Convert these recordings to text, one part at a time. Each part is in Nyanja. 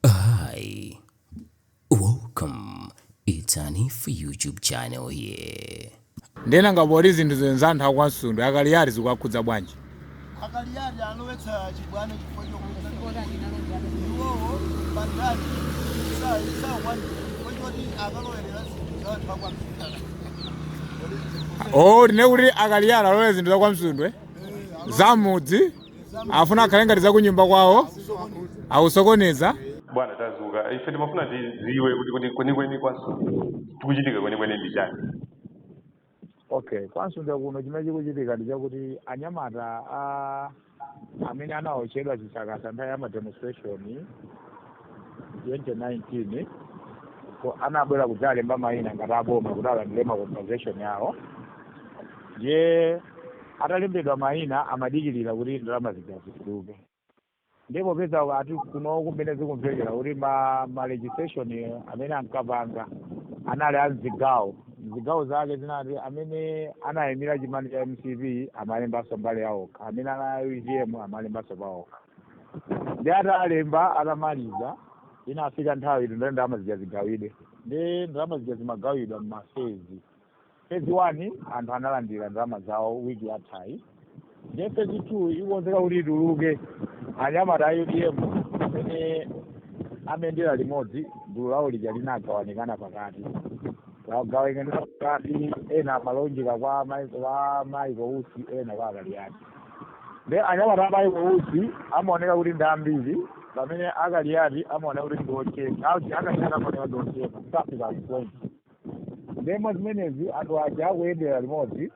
Hi, welcome. It's an if YouTube channel here. nde nanga poti zinthu za anthu akwamsundwe akaliyati zikuwakhudza bwanji akaliyati alowetsa chibwana chifukwa chokuza iwowo pandale sakwana chifukwa choti akalowerera zinthu za anthu akwamsundwe o tinene kuti akaliyati alowere zinthu zakwamsundwe zamudzi afuna akhale ngati zakunyumba kwawo akusokoneza bwana tazuka ife timafuna tiziwe kuti kwenikweni kwamsundwe chikuchitika kwenikweni ndi chani okay kwamsundwe kuno chimene chikuchitika ndi chakuti anyamata a amene anaotchedwa chisakasa nthawi ya mademonstration 2019 ko anabwera kudzalemba mayina ngati aboma kuti alandire ma compensation yawo ndiye atalembedwa mayina amadikirira kuti ndalama zija zituluke nde popeza ati kuno kumene zikumvekera kuti ma registration amene ankapanga anali mzigawo mzigawo zake zinati amene anayimira chipani cha mcp amalembanso mbali yawokha amene anali a utm amalembanso pawokha nde atalemba atamaliza inafika nthawi yoti ndalama zija zigawidwe nde ndalama zija zimagawidwa mmafezi fezi one anthu analandira ndalama zawo wiki yathayi nde fezi two ikukonzeka kuti ituluke anyamata a utm amene amayendera limodzi gulu lawo lija linagawanikana pakati lagawanikana pakati ena amalondola kwa mai- kwa maiko usi ena kwa akaliati nde anyamata a maiko usi amaoneka kuti ndi ambiri pamene akaliyati amaoneka kuti ndi ochepa a akaliyati amaoneka ndi ochepa safika kupoint ndemo zimenezi anthu aja akuyendera limodzi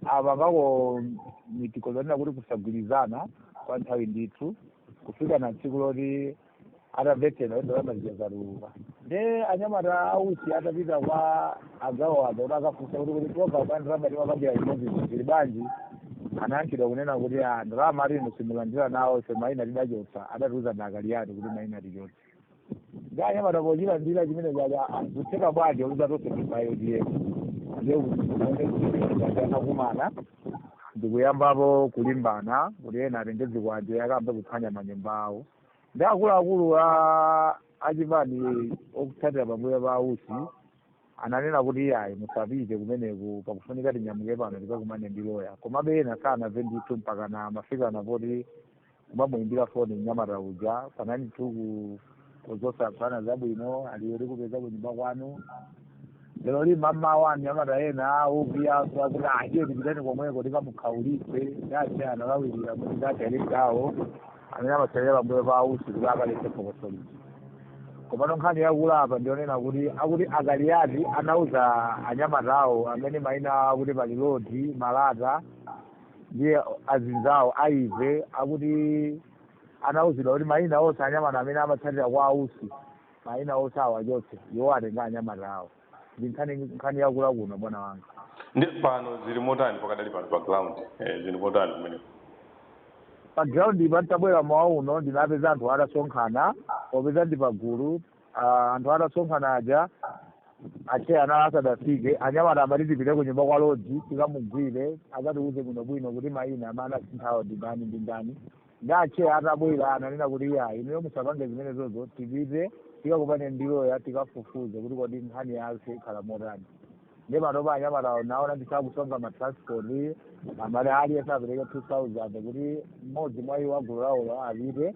apangako miting zonena kuti kusagwirizana kwa nthawi ndithu kufikana tsiku loti atamvetsera kuti ndalama zija zatuluka nde anyamata ausi atapita kwa anzawo aja kuti akafunse kuti program ya ndalama timakambira limodzi ili bwanji anayankhidwa kunena kuti a ndalama ati inu simulandira nawo ife maina tidachotsa adatiuza ndi akaliyati kuti maina tichotse nde anyamata pochilandira chimene chija zikutheka bwanji kuti tonse tili a utm nde anakumana ndikuyambapo kulimbana kuti ena atenge zikwanje akayambe kuphwanya manyumba awo nde akuluakulu a achipani otsatira pambuyo pa usi ananena kuti iyayi musapite kumeneko pakufunika tinyamuke pano tikakumane ndi loya komabe ena sanamve ndithu mpaka anamafika napoti kumamuyimbira foni mnyamata uja panani tu kuzosaphana zabwino ali tikupeza kunyumba kwanu leroli mamawa anyamata ena awo kuyaso akuti aje tipitani komweko tikamukhaulitse atcheya analawirira kuti ndateleka awo amene amatsatira pambuyo pa a usi kuti akaletse phokoso lija komano nkhani yakula apa ndi yonena kuti akuti a kaliati anauza anyamata awo amene maina awo akuti pali lodi malata ndi azinzawo aive akuti anauzidwa kuti maina onse anyamata amene amatsatira kwa a usi maina onse awachotse iwo atenga anyamata awo ndi nkhani nkhani yakula kuno bwana wanga ndi pano zili motani pakadali pano pa ground eh, zili motani kumeneko pa groundpa nditabwera mmawa uno ndinapeza anthu atasonkhana popeza ndi pagulu ah, anthu atasonkhana aja atcheya anali asadafike anyamata amati tipite ku nyumba kwa lodi tikamugwire akatiuze bwinobwino kuti maina amene anasinthawo ndi ndani ndi ndani ndi atcheya atabwera ananena kuti iyayi inuyo musapange zimenezozo tipite tikakumane ndi loya tikafufuze kuti kodi nkhani yake ikhala motani ndi panopa anyamatawo ndaona ndithu akusonkha matransport amati aliyense apereke 2000 kuti mmodzi mwa iwo a gulu lawolo apite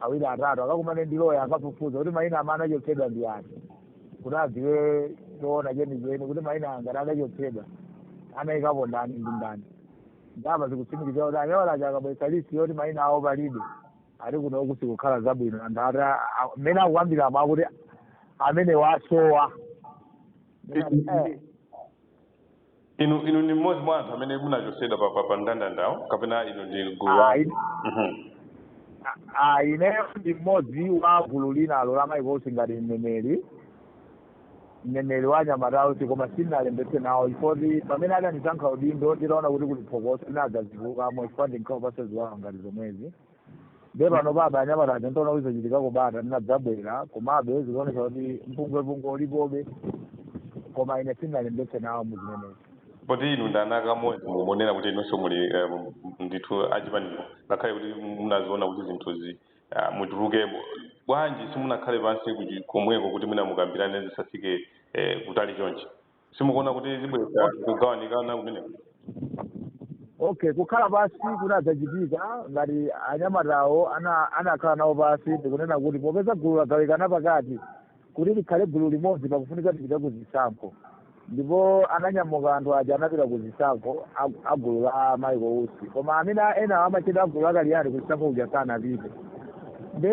awiri atatu akakumane ndi loya akafufuze kuti maina amene anachotsedwa ndi ati kuti adziwe choona chenicheni kuti maina angati anachotsedwa anayikapo ndani ndi ndani nde apa zikutsimikizira kuti anyamata aja akabweretsa list yoti maina awo palibe ati kunoku sikukhala zabwino anthu ati a- a- mmene akukambiramo akuti amene wasowa Eh, inu inu ndi mmodzi mwa anthu amene munachotsedwa pa- pa- pa mndandandawo kapena inu ndi gulu la ayi Mhm. a- a- ineyo ndi mmodzi wa gulu linalo la michael usi ngati mneneri mneneri wa anyamata a usi koma sindinalembetse nawo chifoti pamene adandisankha udindo nditaona kuti kuli phokoso ndinadzatulukamo chifukwa ndinkaopa za ziwawa ngati zomwezi nde pano baba anyamata aja ntaona kuti zachitikako bata ndinadzabwera komabe zikuonetsa kuti mpungwepungwe ulipobe koma ine sindinalembetse nawo muzimenezi poti inu ndi ana amodzi mukuonera kuti inunso muli eh, ndithu a chipanicho ngakhale kuti munaziona kuti zinthuzi Ah, mutuluke bo- bwanji simunakhale pansi kuchi- komweko kuti mwina mukambirane zisafike eh, kutali chonchi simukuona kuti zibweretsa kugawanikana kumeneko okay kukhala pansi kunadzachitika ngati anyamatawo ana- anakhala nawo pansi ndikunena kuti popeza gulu lagawikana pakati kuti tikhale gulu limodzi pakufunika tipite ku zisankho ndipo ananyamuka anthu aja anapita ku zisankho a- a gulu la michael usi koma amene a- ena amachita gulu la kaliati ku zisankho kuja sanapite nde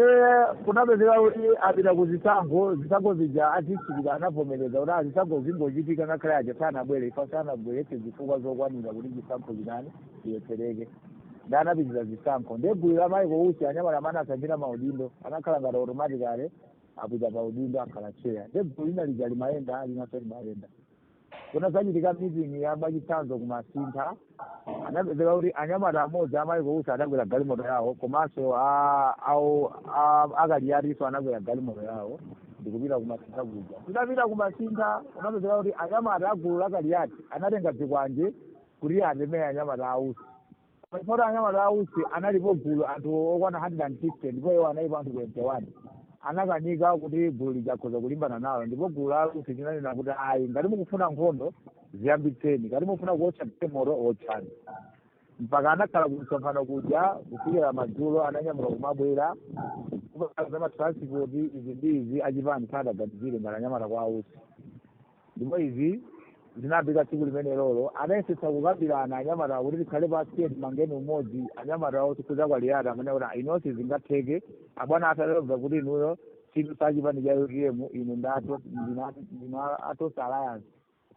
kunapezeka kuti apita ku zisankho zisankho zija azichitika anavomereza kuti zisankho zingochitika ngakhale aja sanabwere chifukwa sanabweretse zifukwa zokwanira kuti chisankho chinani chilephereke nde anapitiriza zisankho nde gulu la michael usi anyamata amene asanjira maudindo anakhala ngati automatically apita pa udindo akhala cheya nde gulu lina lija limayenda linanso limayenda kunazachitika meeting ya mwachitsanzo kumasintha anapezeka kuti anyamata amodzi a michael usi anakwera galimoto yawo komanso a- awo a- akaliyatinso anakwera galimoto yawo ndikupita kumasintha kuja tidapita kumasintha kunapezeka kuti anyamata agulu la kaliyati anatenga zikwanje kuti atemere anyamata a usi poti anyamata a usi analipo gulu anthu okwana 150 ndipo iwo analipo anthu 21 anakanika kuti gulu lija akhoza kulimbana nalo ndipo gulu la usi linanena kuti ayi ngati mukufuna nkhondo ziyambitseni ngati mukufuna kuotcha galimoto otchani mpaka anakhala kumsonkhano kuja kufikira madzulo ananyamuka kumabwera kupaa za matransport izi ndi izi achipani sadaganizire ngati anyamata kwa a usi Ndipo izi zinamveka tsiku limenelolo, anayesetsa kukambirana anyamatawo kuti tikhale pansi tiye timangeni umodzi, anyamatawo chifukwa cha Kaliyati amanena kuti "Ah, inuyo sizingatheke, abwana athu atamva kuti inuyo sinu a chipani cha UTM, inu ndi ato- ndinu a- ndinu a- a Tonse Alliance,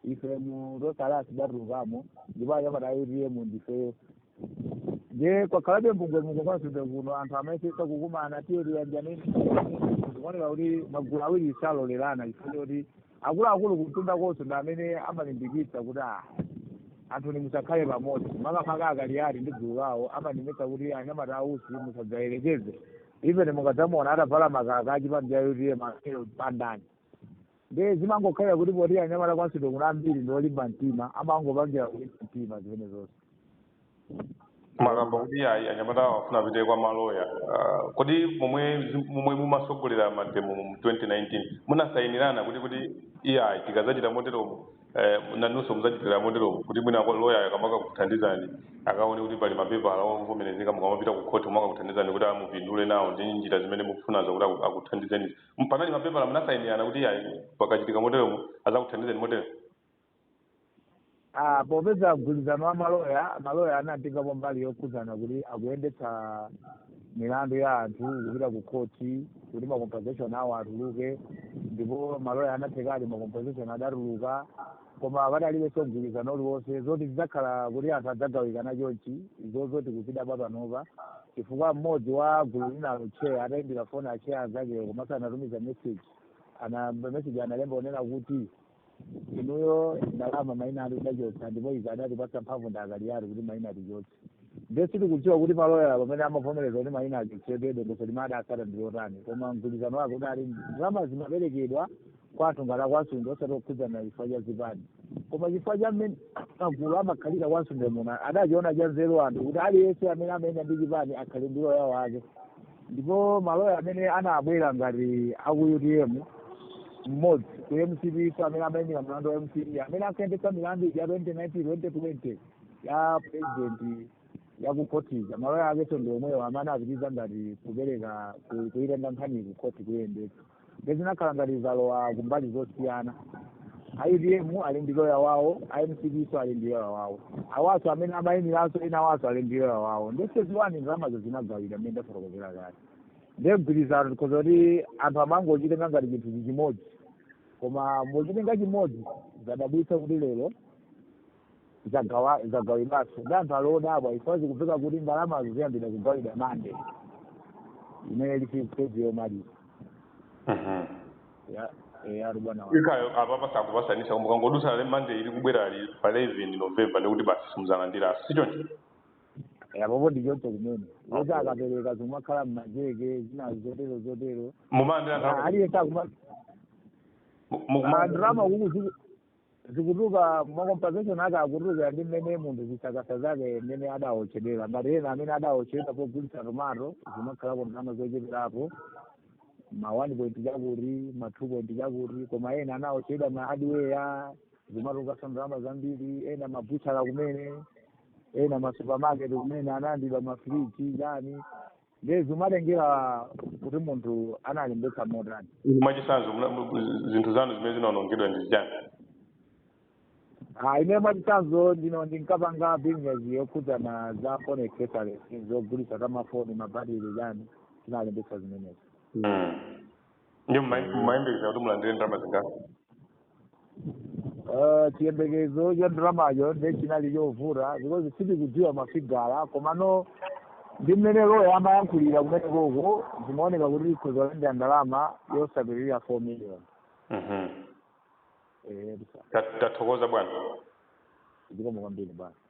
ife mu Tonse Alliance tidatulukamo, ndipo anyamata a UTM ndifeyo. Ndiye kwakhalabe mbungwembungwe kwa Msundwe kuno anthu amayesetsa kukumana tiye tiyanjaneni, zikuoneka kuti magulu awiri salolerana chifukwa choti akuluakulu kumtundakonso ndi amene amalimbikitsa kuti ah, anthuni musakhale pamodzi makamaka akaliyati ndi gulu lawo amalimbikitsa kuti anyamata a usi musadzayerekeze even mukadzamuona atavala makaka achipani cha utm akelo pandani nde zimangokhalira kuti poti anyamata kwa msundwe kuno ambiri ndi olimba mtima amangopangira kulimba mtima zimene zonse mwakamba kuti ayi anyamata afuna apite kwa maloya uh, kodi momwe momwe mumasogolera mademo mu 2019 munasayinirana kuti kuti iyayi tikazachita moteromo eh, nanunso muzachitira moteromo kuti mwina kwa loya akamakakuthandizani akaone kuti pali mapepala ovomerezeka mukamapita ku khoti kumakakuthandizani kuti amupindule nawo ndi njira zimene mukufunazo kuti aku- akuthandizeni panali mapepala munasayinirana kuti iyayi pakachitika moteromo azakuthandizani motero Ah, popeza mgwirizano wa maloya maloya anatengapo mbali yokhudzana kuti akuyendetsa milandu ya anthu kupita ku khoti kuti macompensation awo atuluke ndipo maloya anathekadi macompensation adatuluka koma padalibenso mgwirizano uliwonse zoti zidzakhala kuti anthu adzagawikana chonchi izozo tikuzidabwa panopa chifukwa mmodzi wa gulu linalo cheya atayimbira foni acheya anzakewo komanso anatumiza message ana message analemba onena kuti inuyo ndalama maina anu tidachotsa ndipo izi adatipatsa mphamvu ndi akaliyati kuti maina tichotse nde sitikudziwa kuti maloya pamene amavomereza kuti maina achotsedwe dongosolo limene adatsata ndi lotani koma mgwirizano wake udali ndalama zimaperekedwa kwa anthu ngati akwa msundwe osati okhudzana chifukwa cha zipani koma chifukwa cha mmene magulu amakhalira kwa msundwe muno adachiona cha nzeru anthu kuti aliyense amene amayenda ndi chipani akhale ndi loya wake ndipo maloya amene anabwera ngati aku utm mmodzi ku mcp so amene amayimira mlandu wa mcp amene akuyendetsa milandu ya 2019 2020 ya president yakukhotija maloya akeso ndi omwewo amene anapitiza ngati kupereka ku- kuyitenga nkhani kukhoti kuyendetsa nde zinakhala ngati zalowa kumbali zosiyana a utm ali ndi loya wawo a mcp so ali ndi loya wawo awaso amene amayimiranso ena awaso ali ndi loya wawo nde phase one ndalamazo zinagawidwa mmene ndafotokozera kale nde mgwirizano tikhoza kuti anthu amangochitenga ngati chinthu chimodzi koma mochitenga chimodzi zadabwitsa kuti lero zagawa- zagawidwanso ndi anthu ali odabwa chifukwa zikupezeka kuti ndalamazo ziyambira kugawidwa mande imene ili phase yomaliza Mhm. Ya- eh, ali bwana wa- ikayo apa pasakupasanisa koma ikangodutsa le mande ili kubwerayi pa 11 november ndikuti basi simuzalandiranso sichoncho Eh, apopo ndi choncho kumene kuti akapereka zikumakhala mmacheke zina zotero zotero mumalandira Ah, ndalama aliyense akuma mu- mu- andalama kuku zikutuluka ma compensation ake akutuluka ndi mmene munthu zisakasa zake mmene adaotchedwera ngati ena amene adaotchedwera pogulitsa tomato zimakhalako ndalama zocheperapo ma 1 point chakuti ma 2 point chakuti koma ena anaotchedwa ma hardware zimatulukaso ndalama zambiri ena mabuchara kumene ena masupermarket kumene analandidwa mafriji chani ndiye zimatengera kuti munthu analembetsa motani Inu mwachitsanzo muna- mu- mu- zinthu zanu zimene zinaonongedwa ndi chani Ah, ine mwachitsanzo ndino ndinkapanga business yokhudzana za phone accessories zogulitsa za mafoni mabatiri zani tinalembetsa zimenezo mm. Ndiye mma- mmayembekeza kuti mulandire ndalama zingati? Eh, chiyembekezo cha ndalamayo ndiye chinali chovuta because sitikudziwa mafigala komano ndi mmene loya amayankhulira kumene koko zimaoneka kuti tikhoza kulandira ndalama yosapitirira four million Mhm. Eh, Tat- Tathokoza bwana. zikomo kwambiri bwana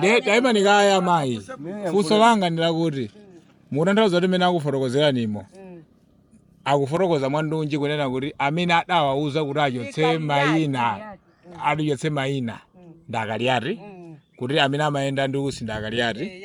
Ne- taimani kaye mayi funso langa ndi lakuti mukutanthauza kuti mmene akufotokozeranimo akufotokoza mwandunji kunena kuti amene adawauza kuti achotse mayina atichotse mayina nda kaliati kuti amene amayenda ndi usi nda kaliati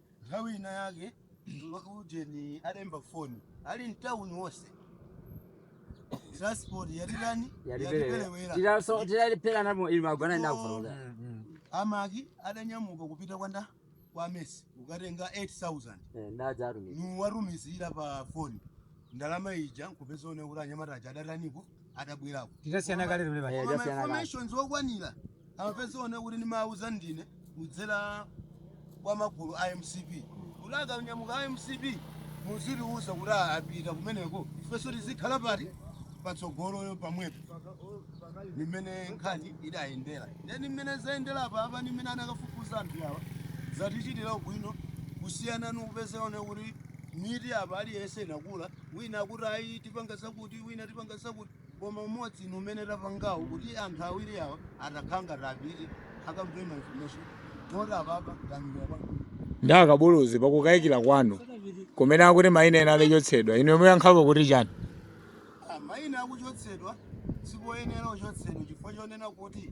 Nthawi inayake Ujeni adaimba foni ali mtauni onse transport yatitani yatiperewera tiraso tiralipera namo ili magona ndipo ndakufuna amaki adanyamuka kupita kwanda kwa mesi kukatenga 8000 eh ndadzaru niwatumizira pa foni ndalama ija nkupeza one kuti anyamata aja adatanipo atabwerako Titasiyana kale limene basi. Eh, Koma titasiyana kale. information zokwanira amapeza onewo kuti ndimawuza ndine kudzera kwa magulu a mcp kuti akanyamuka a mcp muzitiwuza kuti a- apita kumeneko ifenso tizikhala pati patsogolo pamwepo nimene nkhani idayendera ndeni mmene zayendera apa apa ni mmene anakafufuza anthu awa zatichitira ubwino kusiyana nikupeza onewo kuti miti apa aliyense inakula wina akuti ayi tipanga zakuti wina tipanga zakuti koma umodzi ni umene tapangawo kuti anthu awiri awa atakhanga tapite akamve ma information moti apapa tamira apa ndi akabuluzi pakukayikira kwanu kumene akuti mayina ena adachotsedwa inuyo muyankhapo kuti chani mayina akuchotsedwa sipoyenera kuchotsedwa chifukwa chonena kuti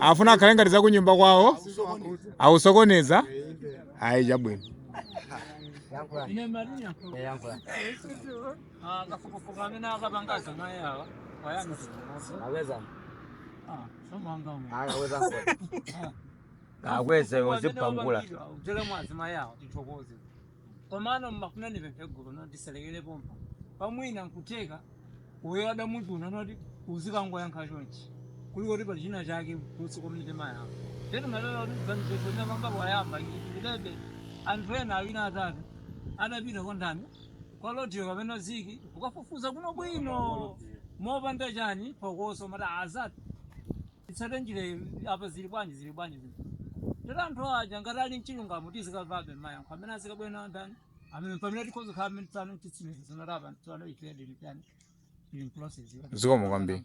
afuna akhale ngati zakunyumba kwawo akusokoneza ayi chabwino akweze uzipangula Komano mmafuna ndipemphe gulu noti tisalekere pompapa mwina nkutheka uyo adamuchuna noti uzikangoyankha chonchi kuli kuti pali china chake kunsi kwa mitima yawo tete matala kuti mganizezo ndapanga poyamba ndilebe anthu ena awiri atatu adapita kwa ndani kwa lodiyo kapena ziki ukafufuza bwino bwino mopanda chani phokoso mati azati titsate njira iyi apa zili bwanji zili bwanji zili tata anthu aja ngati ali mchilungamo tizikamvabe mayankho amene azikabwera nawo ndani apa mpamene tikhoza kukhala amene tsano titsimikizo noti apa tsano ife ndili chani ili mprocess zikomo kwambiri